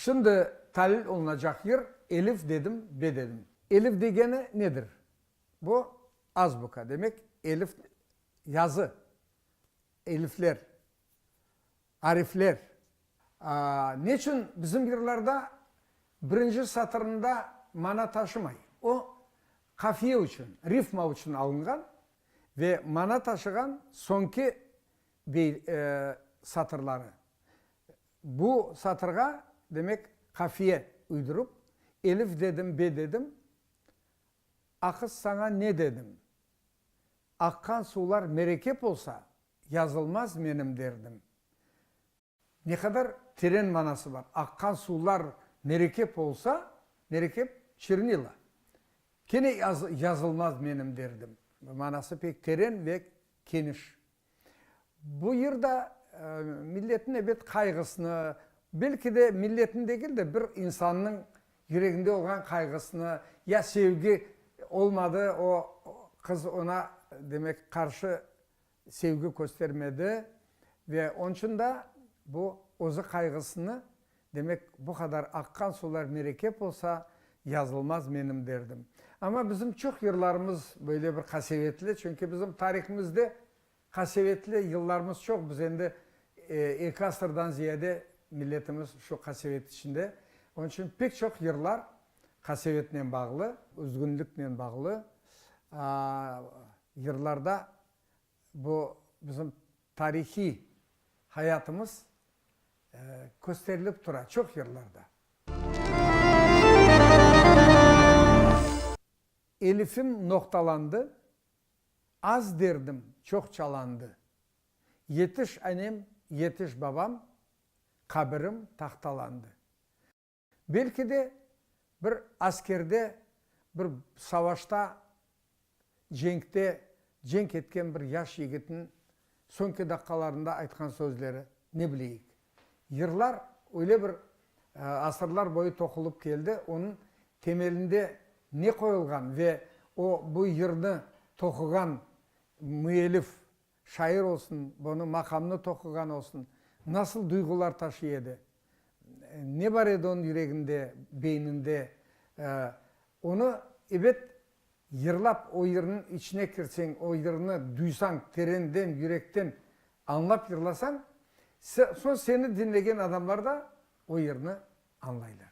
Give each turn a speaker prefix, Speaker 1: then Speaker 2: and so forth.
Speaker 1: Şimdi talil olunacaq yer elif dedim, be dedim. Elif degeni nedir? Bu, azbuka, demek, elif, yazı, elifler, Arifler. Neçün bizim yırlarda birinci satırında mana taşımay? O, qafiye içün, rifma içün alınğan ve mana taşığan soñki bey, satırları. Bu satırğa, demek, qafiye uydurıp, Elif dedim, be dedim, a qız saña ne dedim? Aqqan suvlar merekep olsa, yazılmaz menim derdim. Ne qadar teren manası bar. Aqqan suvlar merekep olsa, merekep çirnila. Kene yazılmaz menim derdim. Manası pek teren ve keniş. Bu yırda milletin ebet qayğısını, belki de milletin degil de, bir insannıñ yüreginde olğan qayğısını, ya sevgi olmadı, o qız ona demek qarşı sevgi köstermedi ve onıñ içün da bu özü qayğısını, demek, bu qadar aqqan sular merekep olsa, yazılmaz menim derdim. Amma bizim çoq yırlarımız böyle bir qasevetli, çünki bizim tarihimizde qasevetli yıllarımız çoq, biz endi eki asırdan ziyade milletimiz şu qasevet içinde, onıñ içün pek çoq yırlar qasevetnen bağlı. Üzgünliknen bağlı. Yırlarda bu bizim tarihiy hayatımız kösterilip tura, çoq yırlarda. Elifim noqtalandı, az derdim çoq çalandı, Yetiş anem, yetiş babam, qabirim tahtalandı. Belki de, bir askerde, bir savaşta, cenkte cenk etken bir yaş yigitniñ soñki daqqalarında aytqan sözleri, ne bileyik. Yırlar öyle bir asırlar boyu toqulıp keldi, onıñ temelinde ne qoyulğan ve o, bu yırnı toquğan müelif, Şair olsun, bunı maqamnı toquğan olsun, nasıl duyğular taşıy edi, ne bar edi onıñ yüreginde, beyninde, onı, ebet, yırlap, o yırnıñ içine kirseñ, o yırnı duysañ, terenden, yürekten añlap yırlasañ, soñ seni diñlegen adamlar da o yırnı añlaylar.